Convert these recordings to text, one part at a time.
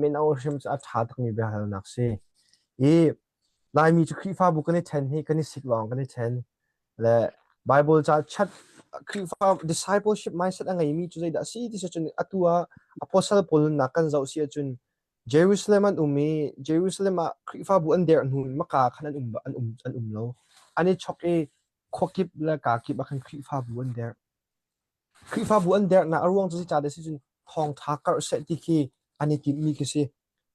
mino hrim cu a ṭha takmi biahalnak si. I Laimi cu Khrihfabu kan i ṭhen hi kan i sik lawng kan i ṭhen. Le Bible ca chat Khrihfa discipleship mindset a ngeimi cu zeidah a si ti si cun atu ah apostle Paul nunnak kan zoh si ahcun Jerusalem an um i Jerusalem ah Khrihfabu an derh hnu in maka khan an um an um an um lo. An i chok i khua kip le kaa kip ah khan Khrihfabu an derh. Khrihfabu an dernak a ruang cu zeicah dah a si cun thawngṭha karh seh ti khi an i timhmi khi si.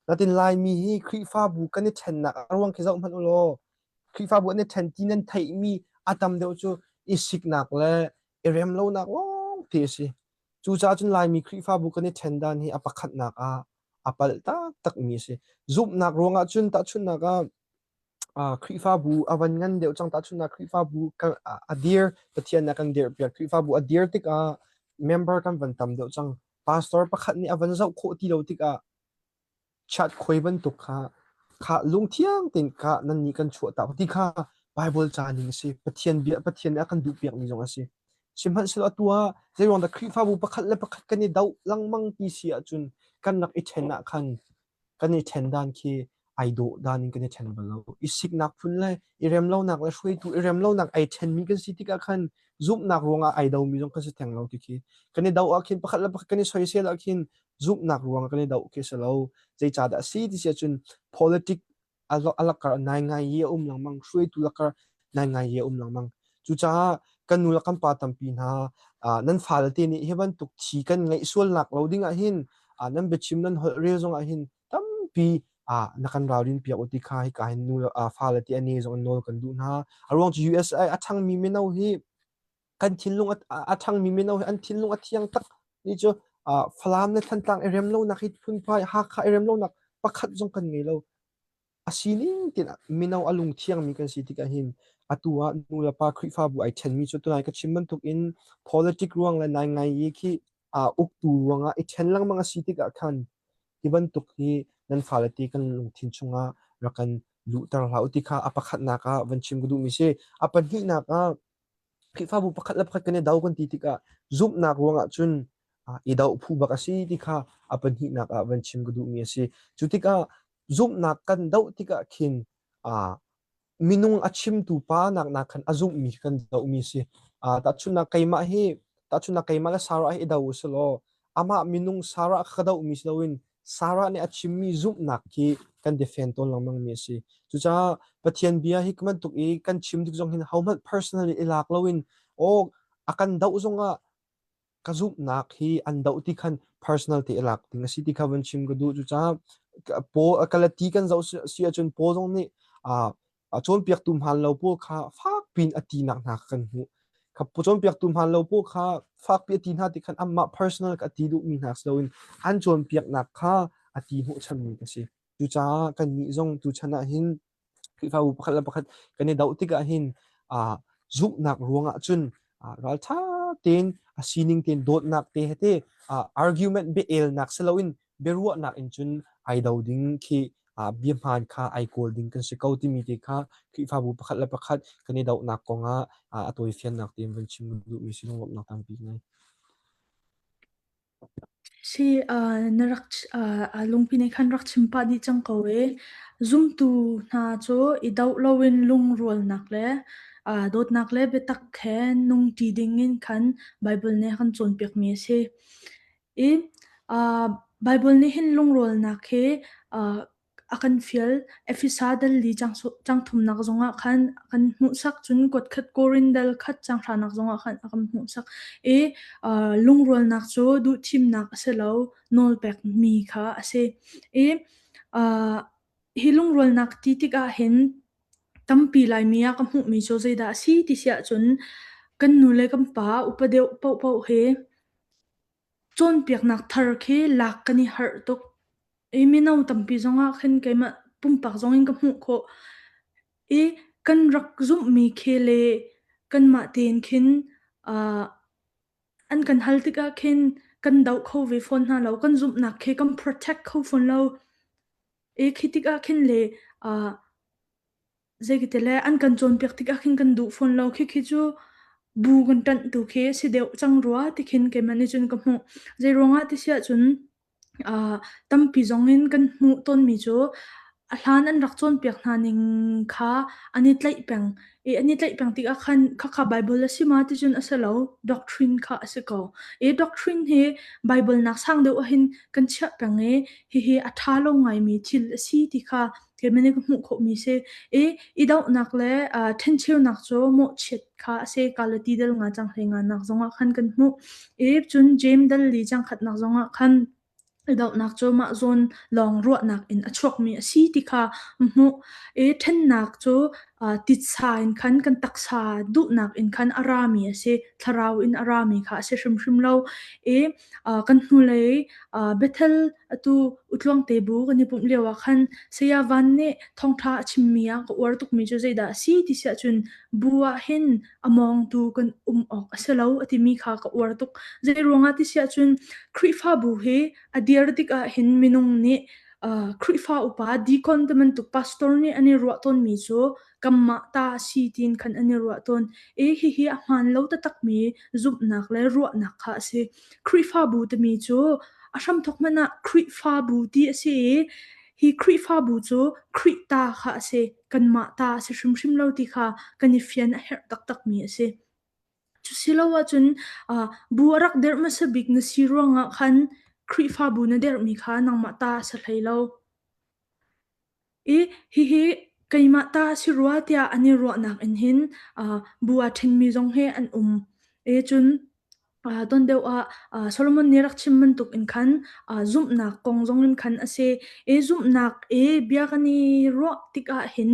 Natin Laimi hi Khrihfabu kan i ṭhennak a ruang khi zoh hmanh u law Khrihfabu an i ṭhen ti nan theihmi a tam deuh cu i siknak le i rem lonak lawngte a si. Cucaah cun Laimi Khrihfabu kan i ṭhen dan hi a pakhatnak ah a pal taktakmi a si. Zumhnak ruangah cun tahchunhnak ah Khrihfabu a van ngan deuh cang tahchun ah Khrihfabu kan a dir Pathian a kan dirpiak. Khrihfabu a dir tikah member kan van tam deuh cang. Pastor pakhat nih a van zoh khawh ti lo tikah chat khui bantuk kha kha lungthiang tein kha nan nih kan chuah tak ti kha Bible ca ning a si. Pathian bia Pathian nih a kan duhpiakmi zong a si. Sihmanhsehlaw atu ah zeiruang dah Khrihfabu pakhat le pakhat kan i doh lengmang ti si ahcun kan rak i ṭhen ah khan kan i ṭhen dan khi ai dawh dan in kan i ṭhen bal lo. I siknak phun le i rem lonak le hruaitu i rem lonak ai ṭhenmi kan si tikah khan zumhnak ruangah ai domi zong kan si theng lo ti khi kan i doh ahkhin pakhat le pakhat kan i soisel ahkhin zumhnak ruangah kan i doh khi a si lo. Zeicahdah a si ti si ahcun politic a lakar naingai i a um lengmang hruaitu lakar naingai i a um lengmang cucaah kan nu le kan pa tampi hna nan fale te nih hi bantuk thi kan ngeih sualnak lo ding ahhin nan biachim nan holh rel zong ahhin tampi na kan ralrin piak u ti kha hika hin nu fale te a ne zong an nawl kan duh hna a ruang cu USA a thangmi mino hi kan thinlung a ṭhangmi mino hi an thinlung a thiang tak ni cu Falam le Thantlang i rem lonak hi phunphai Hakha i rem lonak pakhat zong kan ngei lo. A sining tinah mino a lungthiangmi kan si tikah hin atu ah nu le pa Khrihfabu ai ṭhenmi cu tunai ka chim bantukin politic ruang le nai ngai i khi uktu ruangah i ṭhen lengmang a si tikah khan hi bantuk hi nan fale ti kan lungthin chungah rak kan luhter hlah u ti kha a pakhatnak ah van chim ka duhmi si. A pahnihnak ah Khrihfabu pakhat le pakhat kan i do kan ti tikah zumhnak ruangah cun i do phu bak a si ti kha a pahnihnak ah van chim ka duhmi a si. Cu tikah zumhnak kan doh tikah khin minung a chimtu pa naknak khan a zumhmi kan dohmi a si. tahchunhnak keimah hi tahchunhnak keimah le Sarah hi i do u sih law amah minung Sarah kha ka dohmi si loin Sarah nih a chimmi zumhnak hi kan defen tawn lengmang mi a si. Cucaah Pathian bia hi bantuk i kan chim dik zong hin hohmanh personally i lak loin aw a kan doh zongah ka zumhnak hi an doh ti khan personal te lak ding a si ti kha van chim ka duh cucaah Paul Galati kan zoh si ahcun Paul zong nih a cawnpiaktu hmaan lo pawl kha fakpi in a tinak hna kha kan hmuh kha cawnpiaktu hmaan lo pawl kha fakpi a ti hna ti khan anmah personal ka ti duhmi hna si loin an cawnpiaknak kha a ti hnawhchanmi a si cucaah kannih zong tuchan ah hin Khrihfabu pakhat le pakhat kan i doh tikah hin uh, zumhnak ruangah cun uh, raltha tein a sining tein dawtnak te hete uh, argument be elnak si loin biaruahnak in cun ai do ding khi uh, biahmaan kha ai kawl ding kan si ko timi te kha Khrihfabu pakhat le pakhat kan i dohnak kongah uh, a tawifiannak tein van chim duhmi sinung lawmhnak tampi ngai. Si uh, na rak uh, uh, lungpi ne khan rak chimpa ni chang ko e zumtu hna cu i do loin lungrualnak le uh, dawtnak le biatak he nung ti ding in khan Bible ne khan cawnpiak mi a si. I ah Baibal nih hin lungrolnak hi ah a kan fial. Efesa dal li chang chang thumnak zongah khan a kan hmuhsak, cun kutkhat Korin dal khat changhranak zongah khan a kan hmuhsak i ah lungrolnak cu duhthimnak a si lo, nawlpekmi kha a si. I ah hi lungrolnak ti tikah hin tampi Laimi a ka hmuhmi cu zeidah a si ti si ahcun kan nu le kan pa, upa deuh paohpaoh hi Cawnpiaknak thar khi lak kan i harh tuk i mino tampi zongah khin keimah pumpak zongin ka hmuh khawh i kan rak zumhmi khi le kanmah tein khin uh, an kan hal tikah khin kan doh kho ve fawn hna lo. Kan zumhnak khi kan protect kho fawn lo i khi tikah khin le uh, Zeikatile an kan cawnpiak tikah khin kan duh fawn lo. Khikhi cu bu kan ṭanh tu khi a si deuh cang rua tikhin keimah nih cun ka hmuh. Zeiruangah ti si ahcun aa tampi zongin kan hmuh tawnmi cu a hlan an rak cawnpiak hna ning kha an i tlaih peng i an i tlaih peng tikah khan “Khakha Baibal a si ma?” ticun a si lo, doctrine kha a si ko. I doctrine hi Baibal nak sang deuh ahhin kan chiah peng i hihi a ṭha lo ngaimi thil a si ti kha thil men ka hmuh khawhmi si i i dohnak le uh, thencheunak cu mawhchiat kha a si ka le ti dal nga chang hlei nga nak zongah khan kan hmuh i cun James Dudley changkhatnak zongah khan dohnak cu mah zawn lawng ruahnak in a chuakmi a si ti kha hmuh i thennak cu titsa in khan kan taksa duhnak in khan a rami a si thlarau in a rami kha a si hrimhrim lo i kan hnulei Bethel atu utluangte bu kan i pumh lio ah khan Saya Van nih thawngtha a chimmi a ka uar tukmi cu zeidah a si ti siah cun bu ah hin a mawngtu kan um awk a si lo a timi kha ka uar tuk. Zei ruangah ti siah cun Khrihfabu hi a dir tikah hin minung nih Khrihfa upa deacon te bantuk pastor nih an i ruah tawnmi cu kanmah ta a si tiin khan an i ruah tawn i hihi a hmaan lo taktakmi zumhnak le ruahnak kha a si. Khrihfabu timi cu a hramthok hmanh ah Khrihfabu ti a si i hi Khrihfabu cu Khrih ta kha a si. Kanmah ta a si hrimhrim lo ti kha kan i fian a herh taktakmi a si. Cu silo ahcun uh, bu a rak derh hmasa bik na si ruangah khan Khrihfabu na derhmi kha nangmah ta a si hlei lo. I hihi keimah ta si rua tiah an i ruahnak in hin uh, bu a ṭhenmi zong hi an um. E cun uh, ton deuh ah uh, Solomon nih rak chim bantuk in khan uh, zumhnak kong zong in khan a si. E zumhnak e bia kan i ruah tikah hin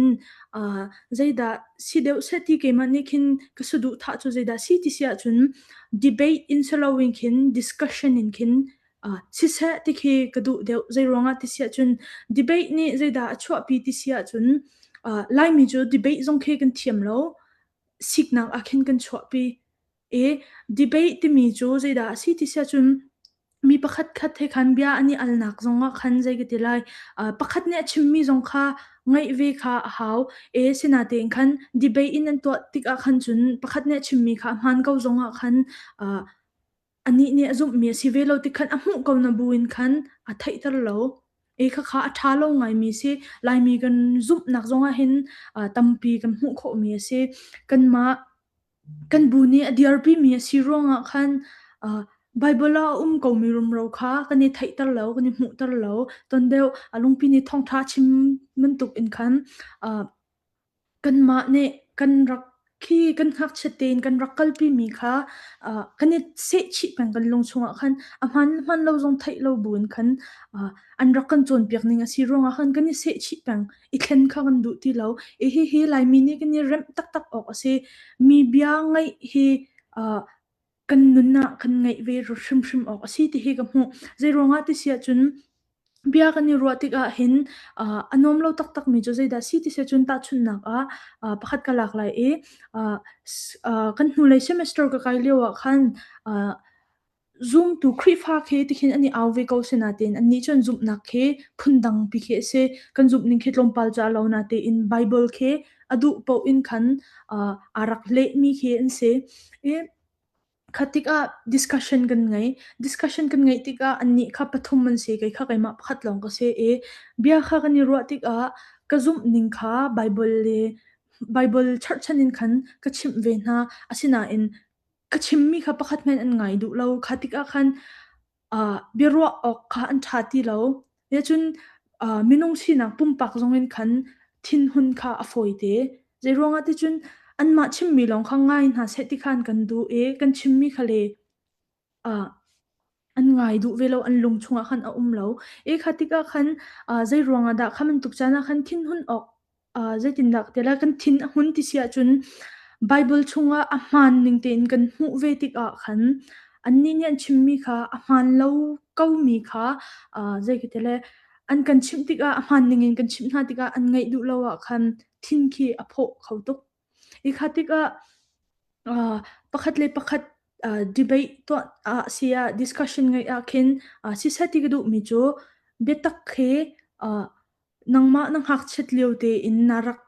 uh, zeidah si deuh seh ti keimah nih khin ka saduhthah cu zeidah si ti si ahcun debate in si loin khin discussion in khin Ah, siseh ti khi ka duh deuh. Zeiruangah ti si ahcun debate nih zeidah a chuahpi ti si ahcun, ah, Laimi cu debate zong khi kan thiam lo, siknak ah khin kan chuahpi. I debate timi cu zeidah a si ti si ahcun, mi pakhatkhat he khan bia an i alnak zongah khan zei ka ti lai, ah, pakhat nih a chimmi zong kha ngaih ve kha a hau. I sinatein khan debate in an tuah tikah khan cun pakhat nih a chimmi kha a hmaan ko zongah khan, ah, Anih nih a zumhmi a si ve lo ti khan a hmuh ko na bu in khan a theihter lo. I khakha a ṭha lo ngaimi si. Laimi kan zumhnak zongah hin uh, tampi kan hmuh khawhmi a si. Kanmah kan bu nih a diarpimi a si ruangah khan uh, Bible a um komi rumro kha kan i theihter lo, kan i hmuhter lo. Ton deuh a lungpi nih thawngṭha chim bantuk in khan uh, Kanmah nih kan rak khi kan ngakchiat tein kan rak kalpimi kha uh, kan i sehchih peng kan lung chungah khan a hman hman lo zong theih lo buin khan uh, an rak kan cawnpiak ning a si ruangah khan kan i sehchih peng i thlen kha kan duh ti lo i hi hi Laimi nih kan i remh taktak awk a si mi bia ngaih hi uh, kan nunah kan ngeih ve hrimhrim awk a si ti hi ka hmuh. Zeiruangah ti si ahcun bia kan i ruah tikah hin uh, a nuam lo taktakmi cu zeidah si ti si ahcun tahchunhnak ah uh, pakhat ka lak lai i uh, uh, kan hnulei semester ka kai lio ah khan uh, Zoom tu Khrihfa khi tikhin an i au ve ko se na tein an nih cun zumhnak khi phundang pi khi a si kan zumh ning khi tlawmpal ca lo na tein Bible khi a duh paoh in khan uh, aa rak lehmi khi an si i khatik ah discussion kan ngei discussion kan ngei tikah annih kha pathum an si kei kha keimah pakhat lawng ka si i bia kha kan i ruah tikah ka zumh ning kha bible le bible churchan in khan ka chimh ve hna asinain ka chimmi kha pakhat men an ngai duh lo khatik ah khan ah biaruah awk kha an ṭha ti lo. Nihcun, ah minung sinak pumpak zongin khan thinhun kha a fawite. Zeiruangah ticun anmah chimmi lawng kha ngai hna seh ti khan kan duh i kan chimmi kha le ah an ngai duh ve lo, an lung chungah khan a um lo. Hi kha tikah khan, ah zeiruangah dah kha bantuk caan ah khan thinhun awk Ah, zeitindah tilah kan thin a hun ti si ahcun Baibal chungah a hmaan ning tein kan hmuh ve tikah khan annih nih an chimmi kha a hmaan lo komi kha ah, zei ka ti le an kan chimh tikah a hmaan ningin kan chimh hna tikah an ngaih duh lo ahkhan thin khi a phawh kho tuk. I kha tikah uh, pakhat le pakhat uh, debate tuah ah si ah discussion ngai ah khin uh, si seti ka duh mi chu biatak khi uh, nangma nang hak chet lio te in narak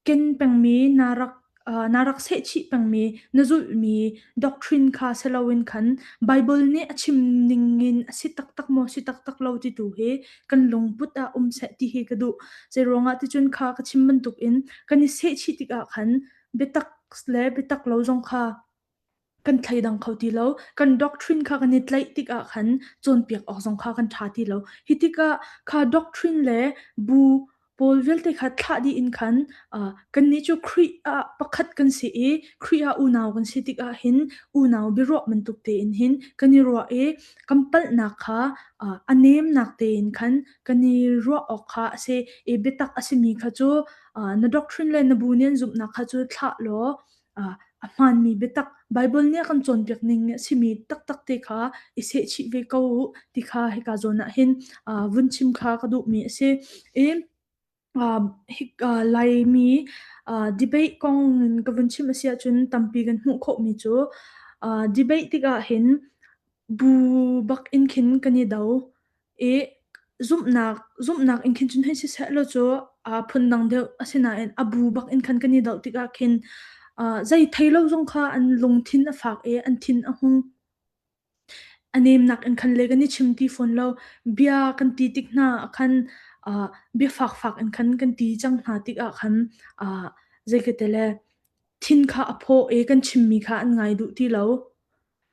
ken peng mi narak uh, narak se chi peng mi na zul mi doctrine kha selawin khan bible ne achim ning in asi tak tak mo si tak tak lo ti tu hi kan lungput ah um seh ti hi ka duh. Zei ruangah ticun kha ka chim bantuk in kan i sehchih tikah khan biatak le biatak lo zong kha kan thleidang kho ti lo. Kan doctrine kha kan i tlaih tikah khan cawnpiak awk zong kha kan tha ti lo. Hi tikah kha doctrine le bu Paul vialte kha thlah dih in khan uh, kannih cu Khrih ah pakhat kan si i Khrih ah unau kan si tikah hin unau biaruah bantuk tein hin kan i ruah i kan palhnak kha uh, a nemnak tein khan kan i ruah awk kha a si i biatak a simi kha cu uh, na doctrine le na bu nih an zumhnak kha cu thlah law a hmaanmi biatak Baibal nih a kan cawnpiak ning a simi taktak te kha i sehchih ve ko u ti kha hika zawn ah hin vun chim kha ka duhmi a si. I Laimi debate kong in ka vun chim a si ahcun tampi kan hmuh khawhmi cu debate tikah hin bu bak in khin kan i do. I zumhnak zumhnak in khin cun hei si seh law cu, aa phundang deuh. Asinain a bu bak in khan kan i doh tikah khin, aa zei thei lo zong kha an lungthin a fak i an thin a hung. A nemnak in khan le kan i chim ti fawn lo. Bia kan ti tik hna ah khan, aa bia fakfak in khan kan ti cang hna tikah khan, aa zeikate le thin kha a phaw i kan chimmi kha an ngai duh ti lo.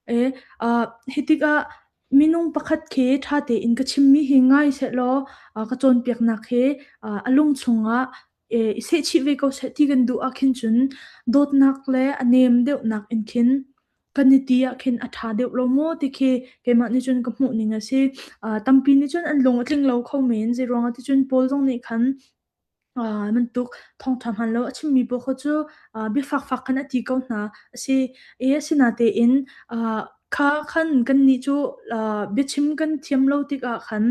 E, uh, hi tikah minung pakhat khi ṭha tein ka chimmi hi ngai sehlaw uh, ka cawnpiaknak hi uh, a lung chungah e, i sehchih ve ko seh ti kan duh ah khin cun dawtnak le a nem deuhnak in khin kan i ti ah khin a ṭha deuh lo maw ti khi keimah nih cun ka hmuh ning a si. Uh, tampi nih cun an lung a tling lo kho men, zeiruangah ti cun Paul zong nih khan Aa bantuk thawngṭha hmanlo a chimmi paoh kha cu, aa biafakfak khan a ti ko hna. Asi i asinatein, aa kha khan kannih cu, aa biachim kan thiam lo tikah khan,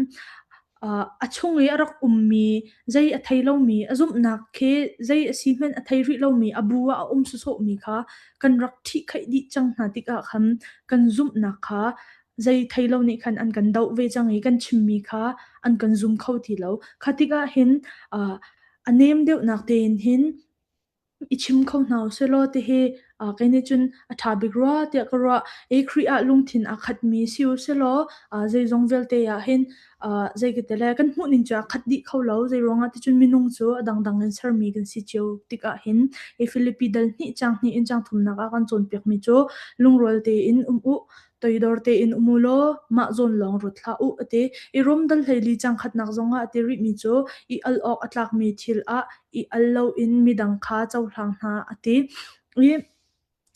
aa a chung i a rak ummi, zei a thei lomi, a zumhnak khi zei a si hmanh a thei rih lomi, a bu ah a um sawsawhmi kha kan rak ṭhihkhaih dih cang hna tikah khan, kan zumhnak kha zei thei lo nih khan an kan doh ve cang i kan chimmi kha an kan zum kho ti lo. Kha tikah hin uh, a nem deuhnak tein hin i chim kho hna u selaw ti hi uh, kei nih cun a ṭha bik rua tiah ka ruah i Khrih ah lungthin aa khatmi si u selaw uh, zeizong vialte ah hin uh, zeikatele kan hmuhning cu a khat dih kho lo zeiruangah ti cun minung cu a dangdang in sermi kan si cio tikah hin i Filipi dal hnih chang hnih in chang thumnak ah kan cawnpiakmi cu lungrual tein um u Toidor tein um u law mah zawn lawng rut hlah u a ti i rumdal hleili cangkhatnak zongah a ti rihmi cu i al awk a tlakmi thil ah i al loin midang kha cohlang hna a ti i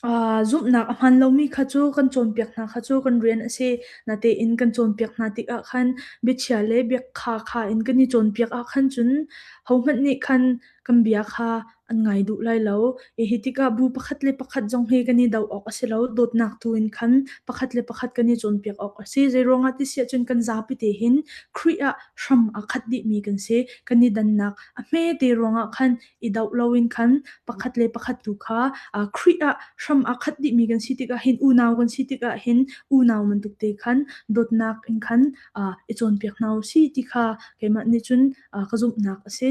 aa, zumhnak a hmaan lomi kha cu kan cawnpiak hna kha cu kan rian a si. Natein kan cawnpiak hna tikah khan biachia le biakha kha in kan i cawnpiak ah khan cun hohmanh nih khan kan bia kha an ngai duh lai lo. I hi tikah bu pakhat le pakhat zong hi kan i doh awk a si lo. Dawtnak tu in khan pakhat le pakhat kan i cawnpiak awk a si. Zeiruangah ti si ahcun kan zapi te hin Khrih ah hram aa khat dihmi kan si. Kan i dannak a hmete ruangah khan i doh loin khan pakhat le pakhat tu kha uh, Khrih ah hram aa khat dihmi kan si tikah hin unau kan si tikah hin unau bantuk te khan dawtnak in khan uh, i cawnpiak hna u si ti kha keimah nih cun uh, ka zumhnak a si.